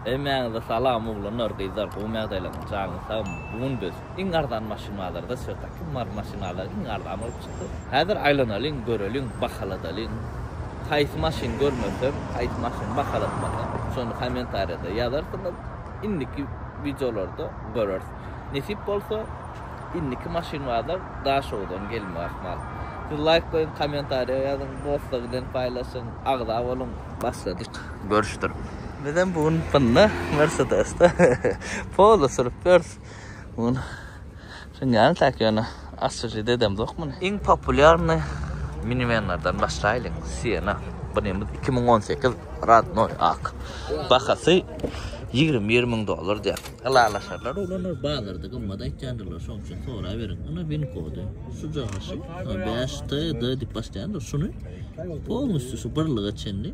Hemmäňize salam oglanlar gyzlar gowymy ýagdaýlaryňyz janyňyz sagmy bu gün biz iň arzan maşyn bazarda çykysa kim bar maşyn bazary iň arzan bolup çykdy häzir aýlanalyň göreliň bahaladalyň haýsy maşyn görmesem haýsy maşyn bahalatmasam şony kommentariýada ýazarsyňyz indiki wideolarda göreris nesip bolsa indiki maşyn bazar daşoguzdan gelmek ahmal siz laýk goýuň kommentariýa ýazyň dostlar bilen paýlaşyň agza boluň başladyk. görüşdir. Bizem bu gün bunda Mersedesde polo sürüp ýörüs. Bu gün sünýäni tak ýöne asyjy dedem zok muny. Iň populýarny minivenlerden başlaýlyň. Siena. Bunymyz iki müň on sekiz radnoý ak. Bahasy ýigrimi bir müň dollar diýýär. Ylalaşarlar olar bazarda gymmat aýtýandyrlar şoň üçin soraberiň. Ine win kody. Şuja gaşyp bäş TD diýip başlaýandyr şuny polnusty şu birlige çenli.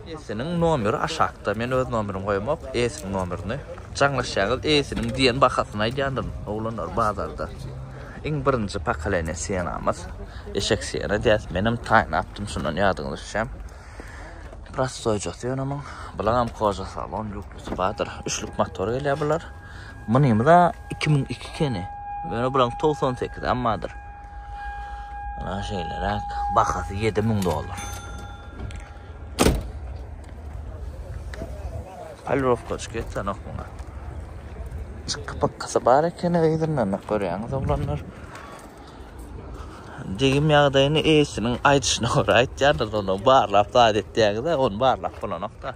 Esiniň nomeri aşakda men öz nomerim goýamok esiniň nomerini jaňlaşýaňyz esiniň diýen bahasyny aýdýandyryn oglanlar bazarda iň birinji pokoleniýa senamyz eşek sena diýýäs menem taýnapdym şundan ýadyňyza düşýän prostoýjasy ýöne muň bulagam koja salon ýuklusy bardyr üçlük motor gelýär bular mynymyza iki müň iki keni ýöne bulaň togsan sekizem bardyr ana şeýleräk bahasy ýedi müň dollar. Palirowkaçyk etsenok muňa. Çykky pykkysy bar ekeni gyzyndan görýäňiz oglanlar. Degim ýagdaýyny eýesiniň aýdyşyna görä aýtýarlar, onda barlap zat etýäňiz-ä, ony barlap bolanok-da.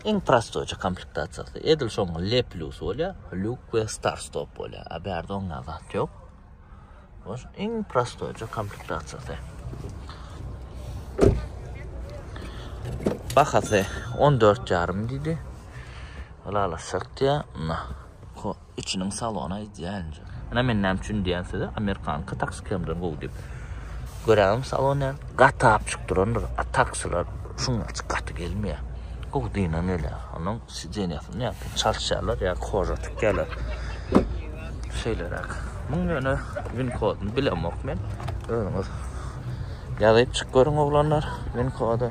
Iň prostoýça komplektasiýasy edil şoň L plus bolýar, lýuk we star stop bolýar. A bärde oňa zat ýok. Boş iň prostoýça komplektasiýasy. Bahasy 14 ýarym diýdi. Alala şertýä. içiniň salona idealnja. Ine men näme üçin diýýän size amerikanka taksi kemden gowy diýip. Göräňem salon näme gatap çyk durandyr. A taksiler şuň açyk gaty gelmeýär. Gowy dynan gelýär. Onuň sidenýasyny ýa-da çalyşýarlar ýa-da koža tikýärler. Şeýleräk. Muň ýöne win koduny bilemok men. Özüňiz ýazyp çyk görüň oglanlar win kody.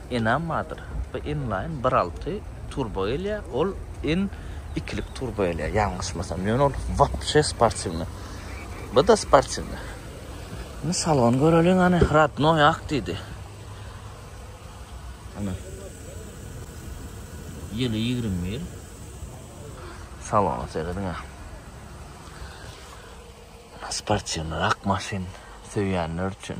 Enam bardyr. Bu inline bir alty turbo gelýär, ol in ikilik turbo gelýär, ýalňyşmasam. Ýöne ol wapşe sportiwnyý. Bu-da sportiwnyý. Indi salon göreliň hany, rodnoý ak diýdi. Ana. Ýyly ýigrimi bir. Salona serediň-ä. Sportiwnyrak maşyn söýýänler üçin.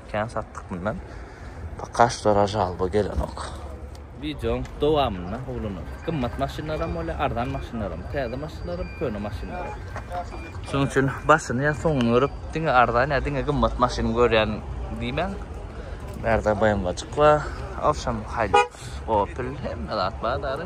Kän satdyk mundan. Pakaş dora jalba gelenok. Wideoň dowamynda oglanlar gymmat maşynlaram bolýar, arzan maşynlaram, täze maşynlaram, köne maşynlaram. Şonuň üçin başyny ýa soňuny görüp, diňe arzan ýa diňe gymmat maşyn görýän diýmäň. Bärde BMW-jyk bar. Awşam Hilux, Opel hemme zat bar däli.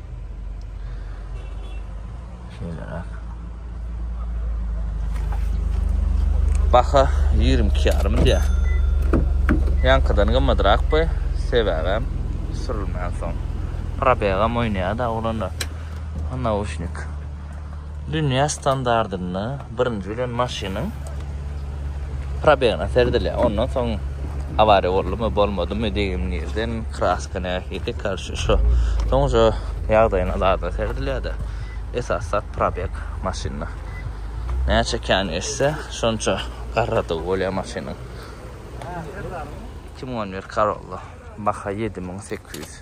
Şeýleräk. Baha 22 ýarym diýär. Ýankydan gymmadrak bu, sebäbem sürülmän soň. Probegam oýnaýar-da oglanlar. Nauşnik. Dünýä standardynda birinji bilen maşynyň probegne seredilýär. Ondan soň awariýa boldumy, bolmadymy diýen ýerden kraska nähili karşy şo. Soň şu ýagdaýyna zada seredilýär-de. Esas zat probeg maşynda. Näçe kän geçse, şonça garradygy bolýar maşynyň. 2011 Corolla. Baha 7800.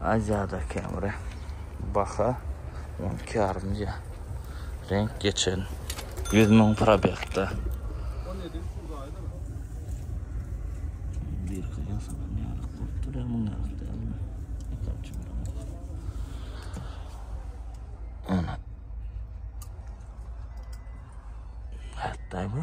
Aziýada käbiri baha on iki ýarymja reňk geçen ýüz müň probegda. Hatta bu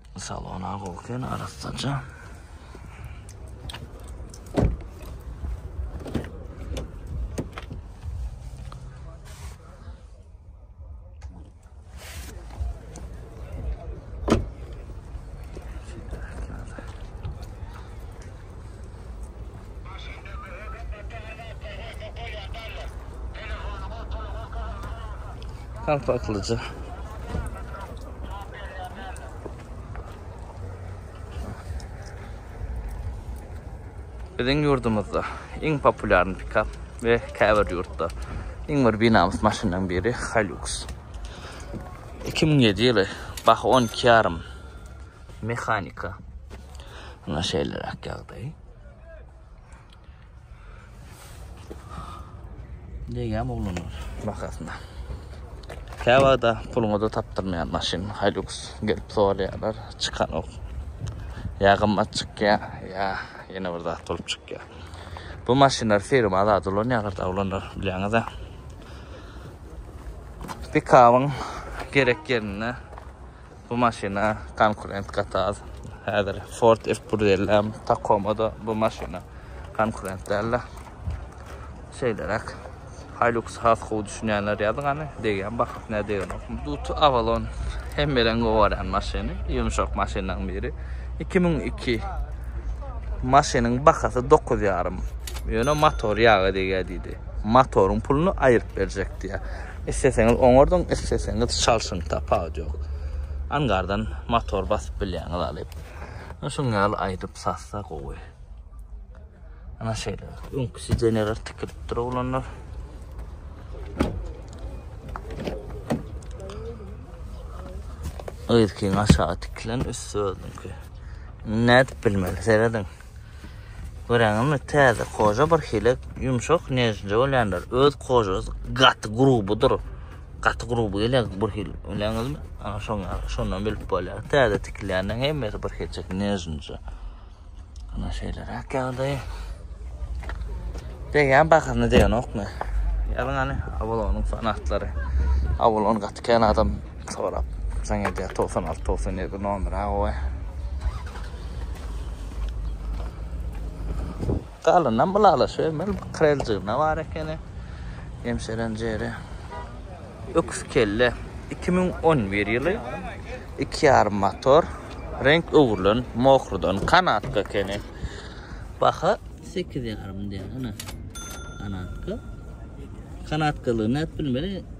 Salona goken arassaja. Kalpaklyja. Biziň ýurdumyzda iň populýarny pikap we käbir ýurtda iň bir binamys maşynlaryň biri Hilux. 2007 ýyly baha 12,5 Mehanika. Ana şeýleräk ýagdaý. Degýäm oglanlar bakasyna. Käwagda puluňyza tapdyrmaýan maşyn Hilux gelip sorýarlar, çykanok. Ýa gymmat çykýar, ýa ýene bir zat bolup çykýar. Bu maşynlar firma azat ulanýarlar, oglanlar bilýäňiz-ä. Pikabyň gerek ýerinde Bu maşyna konkurent gaty az. Häzir Ford F-150 hem, Tacoma-da bu maşyna konkurent däldi. Şeýleräk. Hilux has gowy düşünýänler ýazyň hany, degýän bakyp nä degenokmy. Duty Avalon hemmeleň gowy görýän maşyny, ýumşak maşynlaryň biri. 2002 maşynyň bahasy dokuz ýarym. Ýöne motor ýaga degýär diýdi. Motoryň puluny aýryp berjek diýýär. Isleseňiz oňardyň, isleseňiz çalşyň, tapawut ýok. Angardan motor basyp bilýäňiz alyp. Şuň ýaly aýdyp satsa gowy. Ana şeýle. Öňki sidenýalar tikilip dur oglanlar. Öýdükiň aşagy tikilen, üsti özüňki. Nädip bilmeli, serediň. Göreňizmi täze koja bir hile yumşak nejince bolýandyr. Öz kojasy gaty grubudyr. Gaty grubu gelýär bir hil. Öňňizmi? Ana şoň şondan bilip bolýar. Täze tikilýänden hemmesi bir hilçek nejince. Ana şeýle rak ýagdaý. Degen bahyny degenokmy? Ýalyň ani Avalonyň fanatlary. Avalon gaty kän adam Sorap saň edýär togsan alty togsan ýedi nomera goý. Galynam ylalaşybermeli bir kreljigine bar ekeni hemşerem jeri. Öküz kelle iki müň on bir ýyly iki ýarym motor reňk öwrülen mohrydan kanatka ekeni baha sekiz ýarym diýen ene kanatka kanatkalygy nädip bilmeli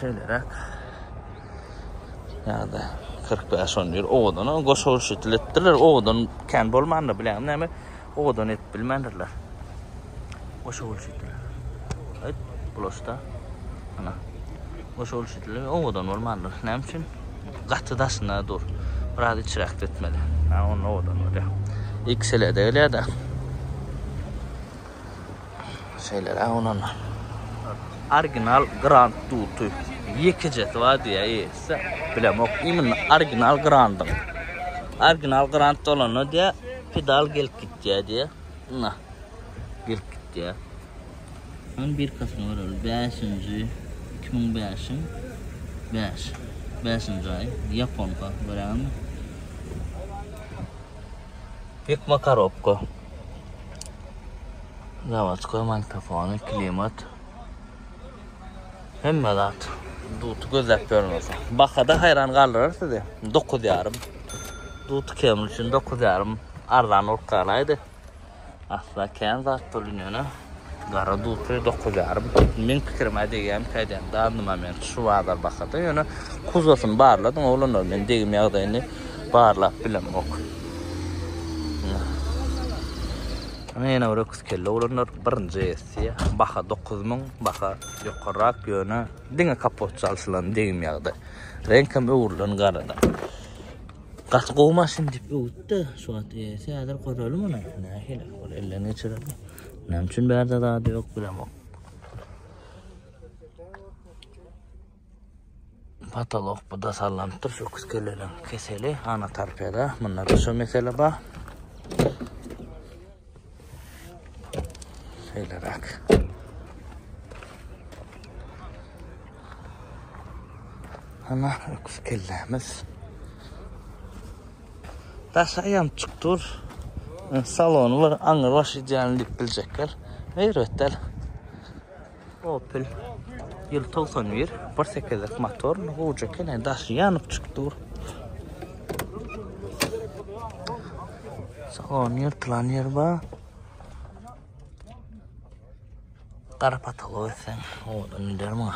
Şeýleräk. Ýa-da 45 on ýer owadan goşaw şeýtil etdiler. Owadan kän bolmandy bilen näme? Owadan edip bilmändirler. Goşaw şeýtil. Aýt, bulaşda. Ana. Goşaw şeýtil owadan bolmandyr. Näme üçin? Gaty daşyna dur. Biraz içräk etmeli. Ha, onda owadan bolýar. Ikisele de gelýär-de. Şeýleräk ononda. Original Grand Duty. Ýekejesi bar diýýär eýesi. Bilemok. Imенно original Grand-yň. Original Grand bolanda diýýär, pedal gelip gitýär diýýär. Ina. Gelip gitýär. Hany birkasyny göreli. 5-nji 2005-iň 5. 5-nji aý. Ýaponka. Görýäňizmi? Ýykma korobka. Zawodskoý magnitofony, klimat. Hemme zat. Duty gözläp görmese. Bahada haýran galdyrar sizi. 9 ýarym. Duty kemli üçin 9 ýarym arzan bolup galaýdy. Asla kän zat bu liniýana. Gara dutly dokuz ýarym. Meň pikirime degýämi käýdämi dandym a men şu bazar bahada ýöne kuzosyny barladym oglanlar men degim ýagdaýyny barlap bilemok. Ana ýene bir öküz kelle oglanlar birinji versiýa baha dokuz müň baha ýokarrak ýöne diňe kapot çalşylan degim ýagdaý. Reňk hem öwrülen garada. Gaty gowy maşyn diýip öwütdi şu wagt eýesi häzir görelim ony nähili ol elden geçirer. Näme üçin bärde zady ýok bilemok. Patolog bu da sallanypdyr şu keleleň keseli ana tarpyda. Munda da şu mesele bar. Şeýleräk. Ana öküz kellemiz. Daşy aýamçyk dur. Salony bir aňyr baş idealny diýip biljekler. Erbetdel. Opel. Ýyl 91. Bir sekizlik motor. Gowja eken. Daşy ýanyp çyk dur. Salony ýyrtylan ýer bar. Gara patolog etsen, owadan öder muňa.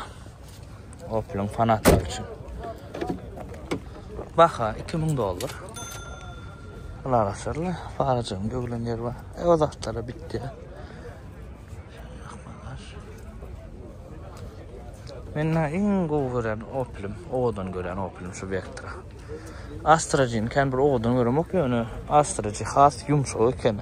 Opel'in fanatlary üçin. Baha 2000 dollar. Bular asırlı. Faracığım göglen yer var. E o zatlara bitti. Men iň gowy gören Opel'im, owadan gören Opel'im şu Vectra. Astra'cyn kan bir owadan göremok ýöne Astra'cı has yumşak ekeni.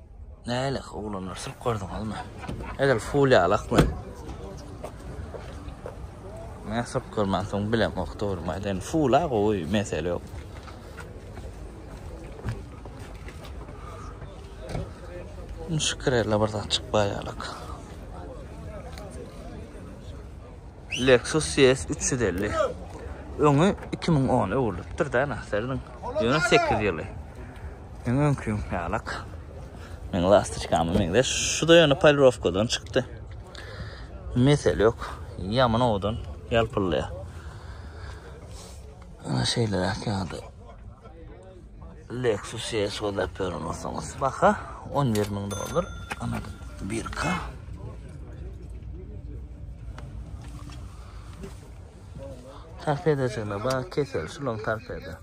Nälik oglanlar sürüp gördiňizmi? Edil ful ýalakmy? Men sürüp görmän soň bilemok dogrymy aýdaýyn. Fula gowy, mesele ýok. Şükür elle bir zat çykmaýalak. Lexus ES üç ýüz elli. Öňi iki müň on öwrülipdir da naserdiň. Ýöne sekiz ýyly. Meň öňküň ýalak. Meň lastiçkama meňzeş. Şu da ýöne polirowkadan çykdy. Mesele ýok. Ýaman owadan ýalpyllaýar. Ana şeýleräk ýaly. Lexus ES gözläp ýören bolsaňyz, baha 11 müň dollar. Ana birka. Tarpedejine bak, kesel şulaň tarpede.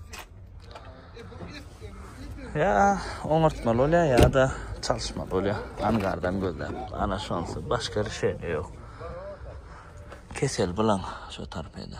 Ya oňartmaly bolýar ya da çalışmaly bolýar. Angardan gözläp. Ana şonsy başga rişeniýe ýok. Kesel bilen şu tarpede.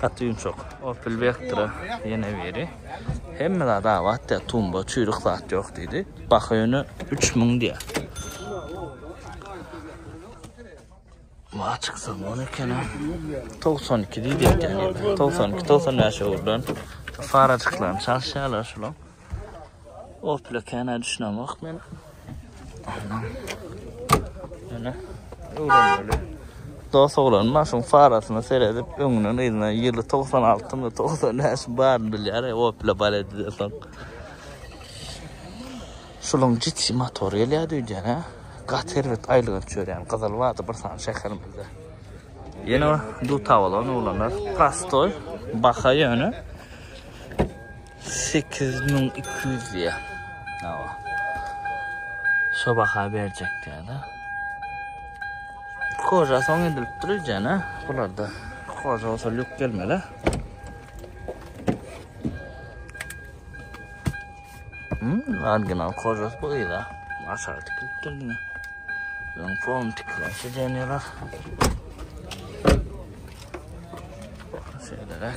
Gaty ýumşak. Opel Vectra ýene biri. Hemme zat abat diýär, tumba, çüýrük zat ýok diýdi. Baha ýöne 3000 diýär. Wa çyksa bol eken. 92 diýdi eken. 92, 95 öwrülen. Farajyklaryny çalyşýarlar şular. Opla kana düşünem yok men. Ana. Öwrenmeli. Dost oglan maşyn farasyna seredip öňünden yzyna ýyly 96 mı 95 bar bilýär e, Opla bar edildi soň. Şuluň ciddi motor gelýär diýýän ha. Gat erbet aýlygan çörýän gyzyl wada bir sany şäherimizde. Ýene duta bolan oglanlar. Prostoy, baha ýöne. Sekiz müň iki ýüz diýýä. Hawa. Şo baha berjek diýýä-de. Koža soň edilip dur ejene. Bularda koža bolsa lük gelmeli. Hmm, original kožas bu ýa. Aşağı tikilip durdy. Öň form tikilip şeýleler. Şeýleler.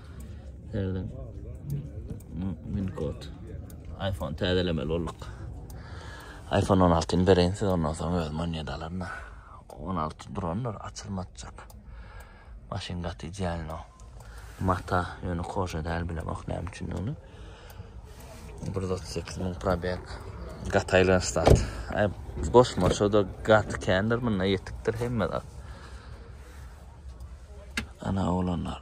Nereden? Min kod. iPhone täzelemeli bolduk. iPhone 16 ni bereýin size ondan soň özüm oýnýa dalaryn. 16 durandyr açylmajak. Maşyn gaty idealno. Mata ýöne koşa däl bile bak näme üçin ony. 138 min probeg. Gataylan stat. Ay goşma şoda gat kendir munda yetikdir hemme zat. Ana olanlar.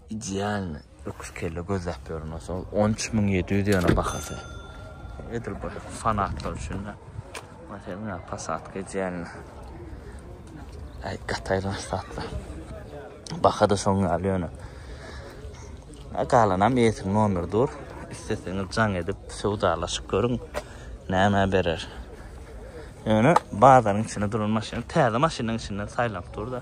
Idealny öküz kelle gözläp ýörün bolsa ol 13 müň 700 ýöne bahasy. Edil bir fanatlar üçin de. Mesela Passat idealny. Ay gataylan satla. Baha da şoň ýaly ýöne. Galanam ýetim nomeri dur. Üstesini can edip söwdalaşyp görün. Näme berer? Ýöne bazaryň içinde duran maşyn, täze maşynyň içinden saýlap dur da.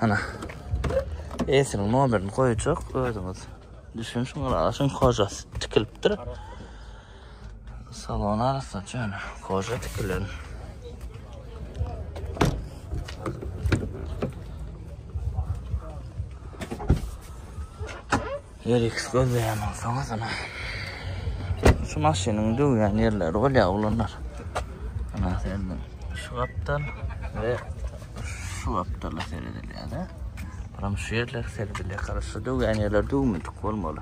Ana. Esiniň nomerini goýjak özüňiz. Düşün şuň aşyň kojas tikilipdir. Salon arasy çöne koja tikilen. Eriks gözleýän bolsaňyz ine şu maşynyň döwýän ýerleri bolýar oglanlar. Ana sende şu gapdal we şu gapdala seredilýär-de. Buram şu ýerler seredilýär. Gara şu döwýän ýerler döwmedik bolmaly.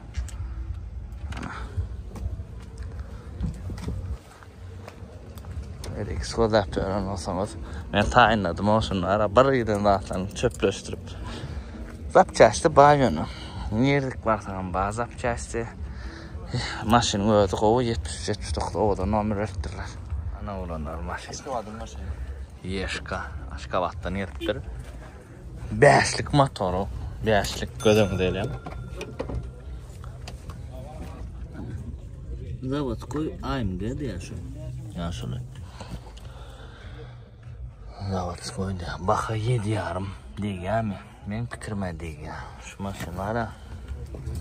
Erik sodap ören olsaňyz. Men taýynladym o şunlara. Bir ýerden zatlaryny çöpleşdirip. Zapçästi baý ýöne. Nirdik barsaň hem bar zapçästi. Maşynyň özi gowy 73-79 owadan nomer beripdirler. Ana olanlar maşyn. Aşgabatdan gelipdir. Bäşlik motory, bäşlik göz öňünde elem. Zavodkoy AMG diýär şu. Ýaşuly. Zavodskoy diýär. Baha 7 ýarym diýýärmi? Men pikirime diýýär. Şu maşynlara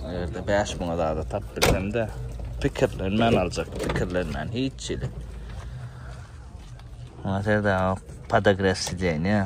ýerde 5000 azada tap bilsemde pikirlenmän aljak, pikirlenmän hiç çili. Hazırda podograf sideniýe.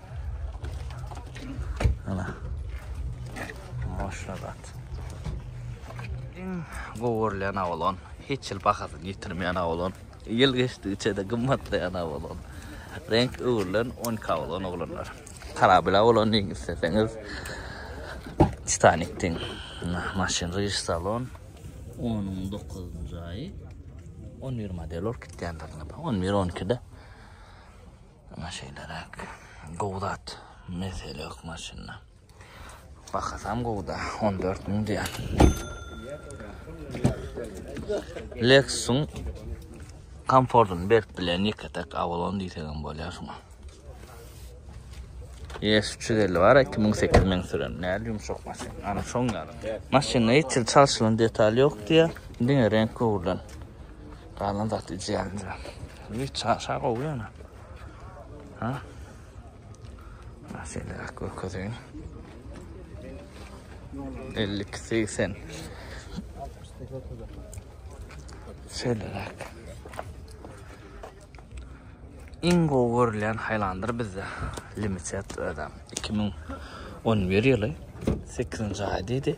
Ana. Maşagat. Iň gowurlaýan awlan, hiç ýyl bahasyny ýitirmeýän awlan. Ýyl geçdigiçe-de gymmatlaýan awlan. Renk öwrülen 10 kawlan oglanlar. Karabil awlan diýiň isleseňiz. Titanik diýiň. Maşyn riş salon. 19-njy aýy. 11 model ol kitýänlerine. 11-12-de. Ana şeýleräk. Gowy zat. Mesele ýok maşynda. Bahasam gowda, 14 müň diýen. Lexusun komfortun berip bilen ýeke tek Avalon diýsegem bolýar şuňa. Yes 350 bar, 2008 men süren. Näl ýumşak maşyn. Ana şoň ýaly. Maşynda hiç ýyl çalşylan detal ýok diýä. Diňe renk gowurlan. Galan zat ijeňja. Ýi çaşa gowy ýöne. Ha? Şeýle ak görkezeýin. 52 80. Şeýle ak. Iň gowy görlen haýlandyr bizde. Limitet adam 2011 ýyly 8-nji aý diýdi.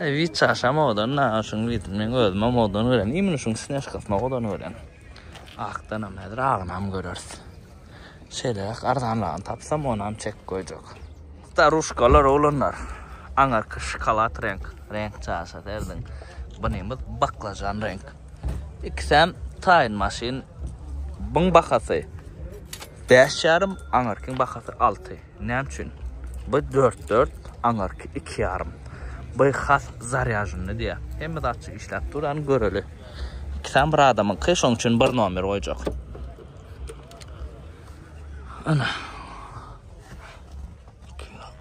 Eý Witcha şa modany naga şuny getir meň özüme modany görýän imini şuny snejkasy modany görýän akdanam häzir agynam göreris şeýleräk arzanragyny tapsam onam çekip goýjak. Staruşkalar oglanlar aňarky şokolad reňk reňk çaşa serdiň bunymyz baklajan reňk ikisem taýyn maşyn buň bahasy bäş ýarym aňarkyň bahasy alty. Näme üçin? Bu dört dört, aňarky iki ýarym. Bu has zarýaženny diýýär. Hemme zatçy işläp dur, ýany göreli. Ikisem bir adamyňky, şoň üçin bir nomer goýjak. Ana.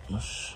260.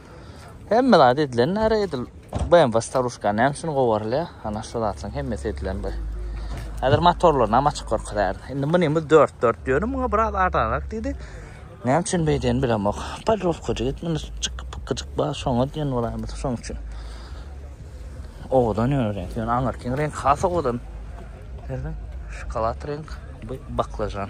Hemme zat edilen näre edil. BMW staruşka näme üçin gowarylýar? Ana şu zatlaryň hemmesi edilen bu. Häzir motorlaryny hem açyk görkezýär. Indi munymyz 4-4 dýöne muňa biraz arzanak diýdi. Näme üçin beýdýän bilemok. Podrowka jigit muny çykyp gyjyk bar şoňa diýen bolaýmasa şoň üçin. Owadan ýöne reňk. Ýöne aňyrkyň reňk has owadan. Gördüň? Şokolad reňk, bu baklajan.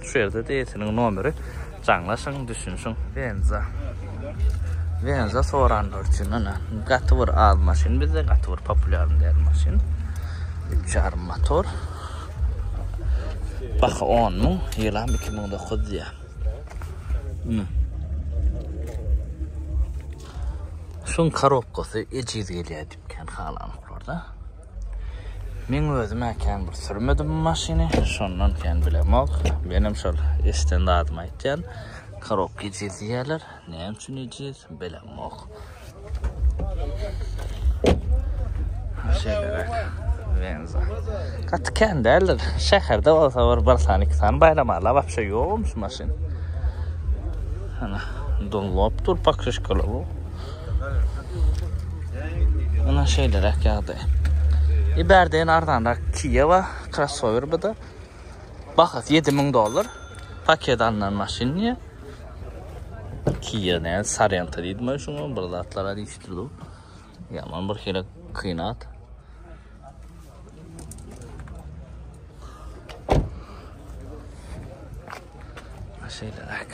Şu ýerde DT-niň nomeri. Jaňlaşyň, düşünişiň. Benza. Benza soranlar üçin ene gaty bir az maşyn bizde, gaty bir populýarny däl maşyn. 3,5 motor. Baha 10 müň, ýylam 2009 diýýär. Ine. Şuň korobkasy ejiz gelýär diýipkän halanoklarda. Men özüm-ä kän bir sürmedim bu maşyny, şondan kän bilemok. Menem şol eşiden zadymy aýtýan. Korobka ejiz diýýärler. Näme üçin ejiz, bilemok. Şeýleräk. Benza. Gaty kän däldir. Şäherde bolsa bir bir sany, iki sany baýramala wapşe ýokmyş maşyn. Ana, dunlopdur, pokrişkalar. Ana şeýle rak ýagdy. Iberden arzan rak Kiyewa crossover bu da. Bahas 7000 dollar. Paket alynan maşyn diye. Kia ne Sarenta diýdi men şuňa bir zatlara diýişdirdi. Yaman bir hile kynat. Şeýleräk.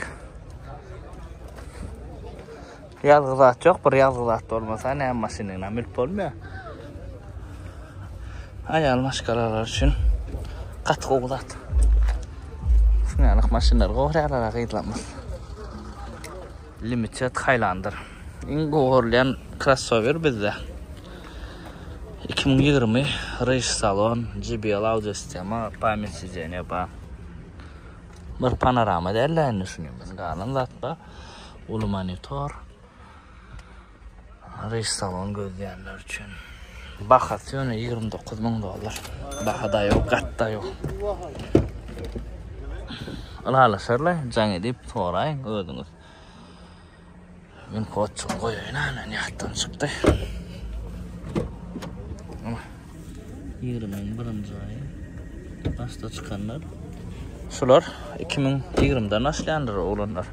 Ýazgy zat ýok, bir ýazgy zat bolmasa, näme maşynyň näme mülk bolmaýar. Aýal maşgalalar üçin gaty gowy zat. Şuňalak maşynlar gowy ýalara gyzlamaz. Limited Highlander iň gowy görülýän krossower bizde. Iki müň ýigrimi Rage salon, JBL audio sistema, pamýat sideniýa bar. Bir panorama däl-de indi şuny, galan zat bar. Uly monitor. Restoran gözleýänler üçin. Bahasy ýöne 29 müň dollar. Bahada ýok, gatda ýok. Ylalaşarlar, jaň edip soraýyň özüňiz. Men koçuny goýaýyn, näme ýatdan çykdy. 20-niň birinji aýy başda çykanlar. Şular 2020-den başlaýandyr oglanlar.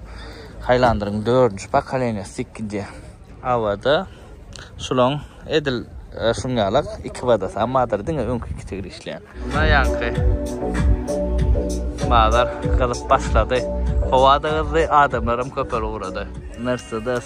Highlander-iň 4-nji pokoleniýasy dik gidýär. Awada şulaň edil e, şuň ýalak iki badasy, ammadyr diňe öňki iki tigir işleýär. Muna ýaňky bazar gyzyp başlady. Howa-da gyzdy, adamlar hem köpel ugrady. Mercedes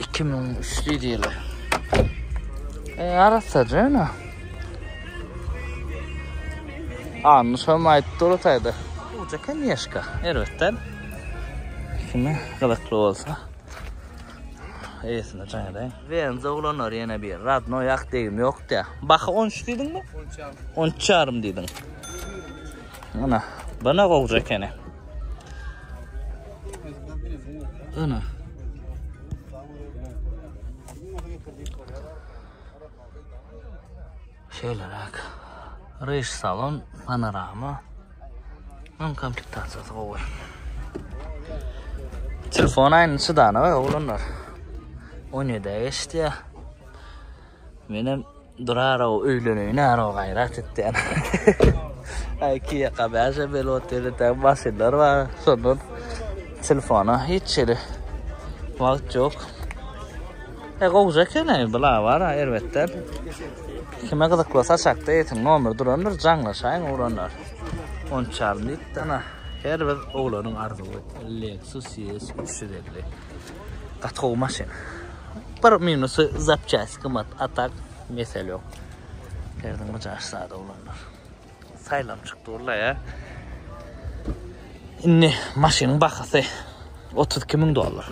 Iki müň üçli diýler. E, arassa jana. Annu şam aýtdy ortayda. Uca kanyeşka. Erbetden. Kimi gılıklı olsa. Eýesine jaň edäýin. Wenza oglanlar ýene bir radno ýak degim ýok diýä. Baha 13 diýdiňmi? 13 ýarym diýdiň. Ana, bana gowja ekeni. Ana. Şeýleräk. Reş salon, panorama. Hem komplektasiýasy gowy. Telefon aýny çydana we oglanlar. 17 geçdi. Menem Durarow öýlenegi närow gaýrat etýän. Aý iki ýaka bäşe belot diýdi tä maşynlar bar şondan telefona hiç hili wagt ýok. E gowja eken aý bu labar erbetden. Kime gyzykly saçakda ýetiň nomer durandyr jaňlaşaýyň ugranlar. On çarmyk dana her bir oglanyň arzuwy Lexus ES üç ýüz elli. Gaty gowy maşyn. Bir minusy zapçast gymmat, a tak mesele ýok. Derdiň myjaş sada oglanlar. Saýlam çykdy walla ýa. Indi maşynyň bahasy 32 müň dollar.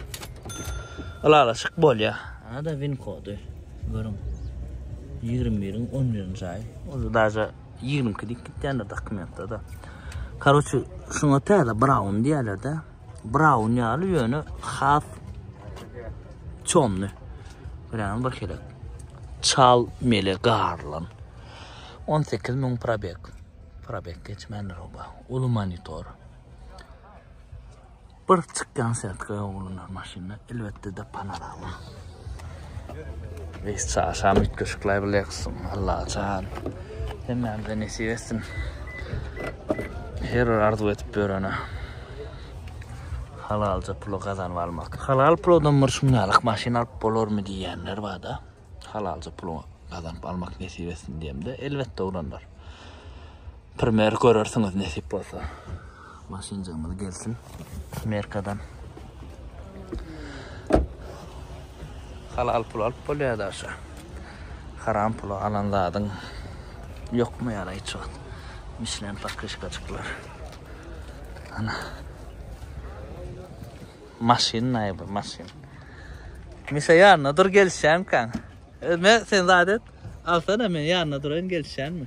Ylalaşyk bolýa. Ana da win kody. Görüň. 21-iň 11-nji aýy. Ol daja 22 diýip gitýändir dokumentde da. Karoçi, şuňa täze Brown diýerler-de. Braun ýaly ýöne has çomly. Görýäňiz bir kelek. Çal mele garlan. 18 müň probek. Probek geçmändir oba. Uly monitor. Bir çykýan setka oglanlar maşynda elbetde de panorama. Reis çaşam üýtgeşikler bile ýaksyn Allajan hemmämize nesip etsin her bir arzuw edip ýörene halalja puly gazanyp almak. Halal puldan bir şunýalyk maşyn alyp bolarmy diýýänler barda. Halalja puly gazanyp almak nesip etsin diýemde elbetde oglanlar. Primer görersiňiz nesip bolsa. Maşynjygymyz gelsin. Merkadan. Halal pul alyp bolýar da aşa. Haram pula alan zadyň ýokmy ýara hiç wagt. Mişlen pakışkaçyklar. Ana. Maşyn naýby maşyn. Mişe ýanyna dur gelişýän kan. Özme sen zadet. Alsana men ýanyna durayyn gelişýänmi?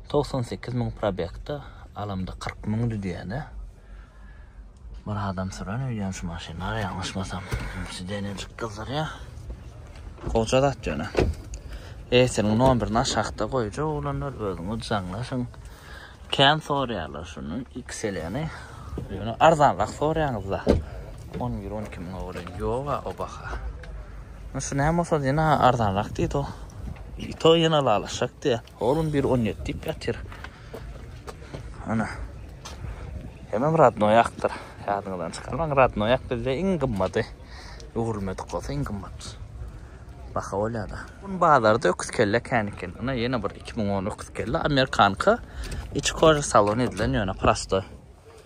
Togsan sekiz müň probegda alamda kyrk müň düzýäne. Bir adam süren öýdýän şu maşynlar ýalňyşmasam. Sidenem çyk gyzdyrýa. Goja zat ýöne. Eýsiniň nomerini aşakda goýjak oglanlar özüňiz jaňlaşyň. Kän sorýarlar şuny XL-ni. Ýöne arzanrak sorýaňyzda. On bir on iki müňe welin ýoga o baha. Şu näme bolsa ýene arzanrak diýdi o. Ýene ylalaşjak diýýä. Oglum bir on ýedi diýip ýatyr. Ana. Hemem radnoýakdyr. Ýadyňyzdan çykarmaň, radnoýak bizde iň gymmady. Öwrülmedik bolsa iň gymmat. Baha bolýar-da. Gün bazarda öküz kelle kän eken. Ine ýene bir iki müň on öküz kelle amerikanka. Içi koža salon edilen ýöne prosto.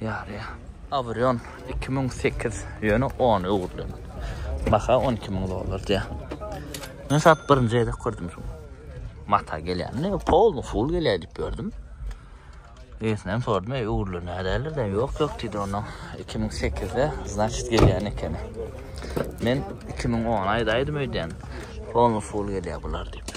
Ýarýa. Abrion iki müň sekiz ýöne on öwrülen. Baha on iki müň dollar diýä. Men sat birinji gezek gördüm şu. Mata gelýän. Ne pol full gelýär diýip gördüm. Eýesinem sordum, eý öwrülen nädeler de ýok ýok diýdi onda. 2008-de значит gelýän ekeni. Men 2010 aýdaýdym öýdýän. Pol full gelýär bular diýip.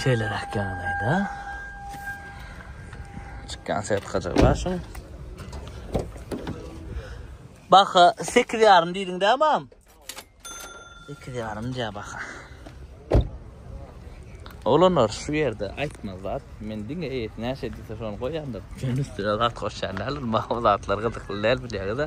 Şeýleräk ýagdaýda çykýan sertifikajygy bar şuň. Baha 8 ýarym diýdiň dä mam? 8 ýarym diýä baha. Olanlar şu ýerde aýtmaz zat. Men diňe eýesi näçe diýse şony goýýandyr. Şonuň üstüne zat goşýan däldir. Maňa zatlar gyzykly däl bilýäňiz-ä.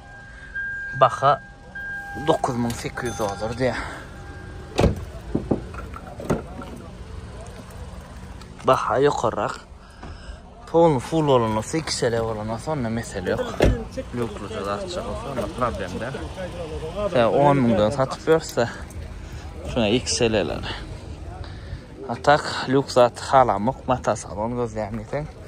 Baha dokuz müň sekiz ýüz dollar diýýär. Baha ýokarrak. Pol full bolan olsa, iki sele bolan olsa, onda mesele yok. Lükluca da atacak olsa, onda problem de. Sen 10 münden satıp verse, şuna iki seleler. Atak, lük zat halamak, mata salon gözleyen desen.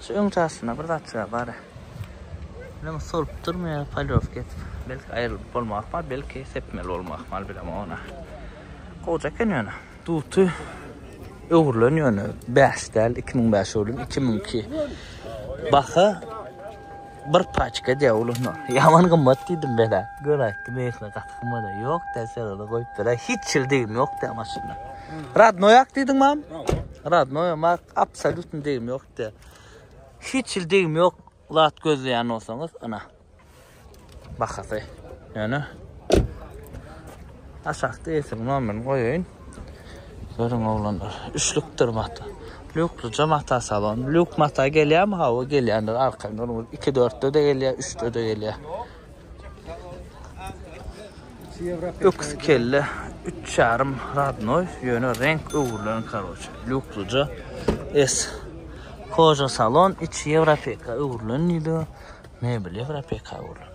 Şu öň çaşynda bir zat çyga bara. Ýöne solup durmaýar polýowka edip. Belki aýrylyp bolmak ahmal, belki sepmeli bolmak ahmal bilemok ony. Goja eken ýöne. Duty öwrülen ýöne bäş däl, iki müň bäş öwrülen, iki müň iki. Baha Bir paçka diýýär uluna. Ýaman gymmat diýdim men-ä. Göräýipdim eýsem gaty gymmada. Ýok diýýär, sen ony goýup beräý. Hiç hili degim ýok diýýär maşynda. Radnoýak diýdiň mam? Radnoýa mak, absolýutny degim ýok diýýär. Hiç hili degim ýok zat gözleýän bolsaňyz, ynha. Bahasy. Ýöne aşakda eýsiniň nomerini goýaýyn. Görüň oglanlar üçlükdir mata. Lýuklyja mata salon. Lýuk mata gelýärmi? Hawa gelýändir arka görüň iki dörtde-de gelýär, üçde-de gelýär. Öküz kelle üç ýarym radnoý, ýöne reňk öwrülen karoçe. Lýuklyja S. Koja salon içi ýewropeka öwrülen diýdi. Mebel ýewropeka öwrülen.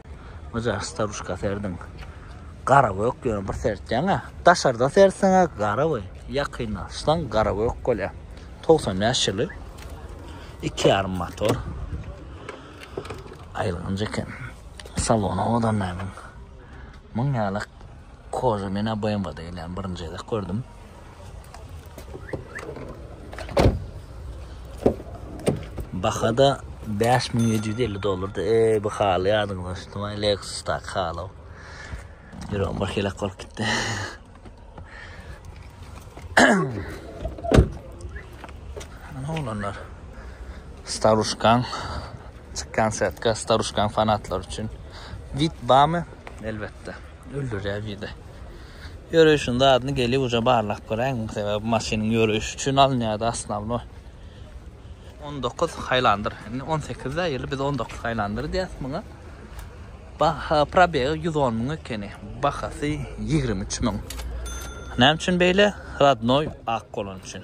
Oja staruşka serdiň. Gara gök ýöne bir sertýäňä. Daşarda serseňä gara we ýakynlaşsaň gara gök bolýar. 95 ýyly. 2,5 motor. Aýylganç eken. Salony owadan nämen. Muň ýaly koza men BMW-de gelýän birinji gezek gördüm. Bahada 5750 dollardy. Ey bu haly ýadyňyza düşdümi? Lexus tak haly. Ýürek bir helak bolup gitdi. Ana olanlar. Staruşkan çykkan setka Staruşkan fanatlar üçin. Vit bamy elbetde. Öldürýär biri. Ýöreýşiň zadyny gelip uje barlap göräýiň sebäbi maşynyň ýöreýşi üçin alynýardy asnawno. On dokuz haýlandyr indi on sekizde ýyly biz on dokuz haýlandyr diýýäs muňa. Baha probegi ýüz on müň ekeni bahasy ýigrimi üç müň. Näme üçin beýle? Radnoý ak bolany üçin.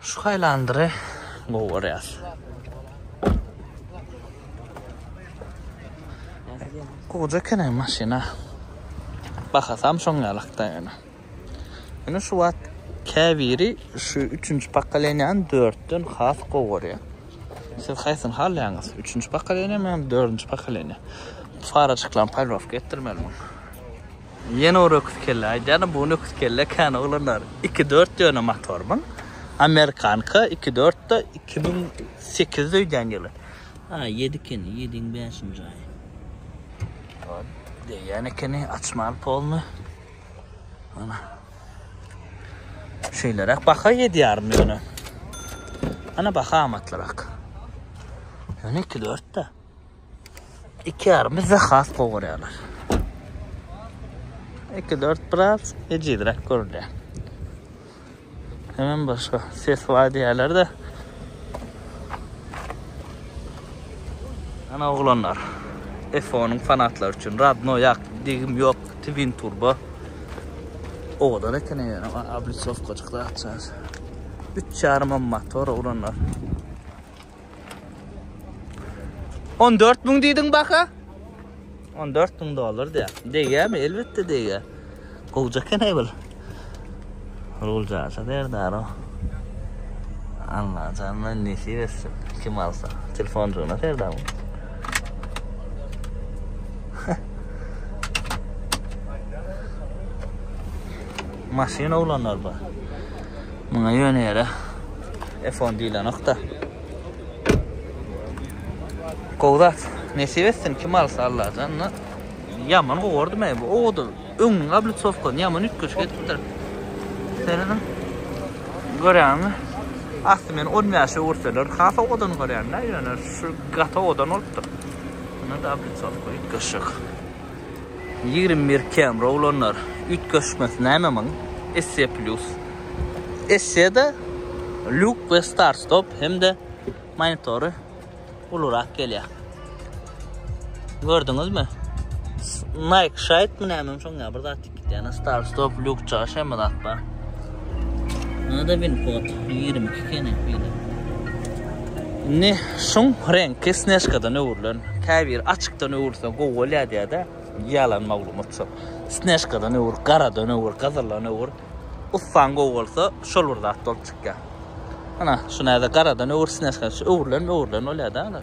Şu haýlandyry gowy görýäs. Gowy eken hem maşyna. Bahasam şoň ýalakda ýöne. Ýöne şu wagt käbiri şu 3-nji pokoleniýany 4-den has gowy görýär. Siz haýsyny halaýaňyz? 3-nji pokoleniýa, men 4-nji pokoleniýa. Farajyklaryň polirowka etdirmeli muny. Ýene bir öküz kelle aýdýaryn, bu gün öküz kelle kän oglanlar. Iki dört döne motor muň. Amerikanka iki dörtde iki müň sekizde öýdýän ýyly. A, ýedi ekeni, ýediň bäşinji aýy. Degýän ekeni, açmaly polny. Ana. Şeýleräk baha ýedi ýarym ýöne. Ana baha amatlyrak. Ýöne iki dörtde. İki yarım bizde has gowy görýärler. 2 4 biraz ejizräk görünýär. Hemen başga ses var diýerler de. Ana oglanlar. F10'un fanatlary üçin radno ýak, digim ýok, twin turbo. Owadan eken ýene ablisovkajykda atýar. 3,5 motor oglanlar. 14 müň diýdiň baka? 14 müň dollar diýär. Degýärmi? Elbetde degýär. Gowja eken aý bul. Ruljasa derdar o. Allah janyna nesip etsin. Kim alsa. Telefoncugyna serdar bu. Maşyn oglanlar bar. Muňa ýöne ýere F10 diýlenokda. Gowzat, nesip etsin kim alsa Allajan. Ýaman gowurdy men bu. Owda öňüň ablitsowka ýaman üýtgeş gitipdir. Seriniň görýäňmi? Asty men 10 ýaşa görseler, has owadan görýän, näýýäne şu gata owadan bolupdyr. Ýa-da ablitsowka üýtgeşik. Ýigrimi bir kamera ulanýar. Üýtgeşmesi näme muň? Esse plus. Esse-de luk we start stop hem-de monitory ulurak gelýär. Gördüňizmi? Nike şaýtmy näme şoň ýa bir zat. Diana Star Stop Lux Çaşa mı dakba? Nada bin kod 22 kene bile. Ne şun renk kesneşkadan öwrülen. Kabir açıktan öwrülse gow bolya diye de yalan maglumat şu. Sneşkadan öwür, garadan öwür, gazırlan öwür. Uffan gow bolsa şol bir zat bolup çıkya. Ana şu nada garadan öwür sneşkadan şu öwrülen öwrülen olya da.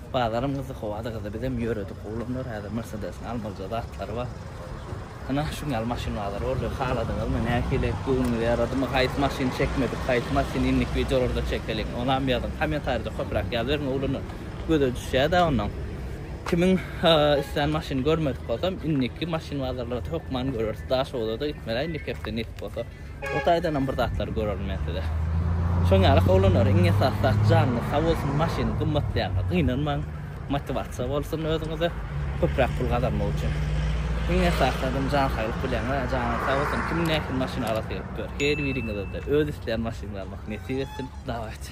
Bazaram gyzdy howada gyzdy bizem ýöredik oglanlar häzir mersedesiň almalyja zatlary bar ynha şuň ýaly maşyn bazary boldy haladyňyzmy nähili göwnüňize ýaradymy haýsy maşyny çekmedik haýsy masyny indiki wideolarda çekeliň onam ýazyň komentarida köpräk ýazyberiň oglanlar göze düşýädä onam kimiň islän maşyny görmedik bolsam indiki maşyn bazarlarda hökman göreris daşoguzada gitmeli indiki hepde nesip bolsa. O taýdanam bir zatlar görerin men size. Şoň ýaly howlanary iň esasy zat janyňyz sag bolsun, maşynyň gymmatlaýanyna gynanmaň. Motiwasiýa bolsun özüňize köpräk pul gazanmak üçin. Iň esasy adam jan saglyk bilýän, a janyňyz sag bolsun kim nähili maşyn alası gelipdir. Her biriňize-de öz isleýän maşynlary almak nesip etsin. Dawajy.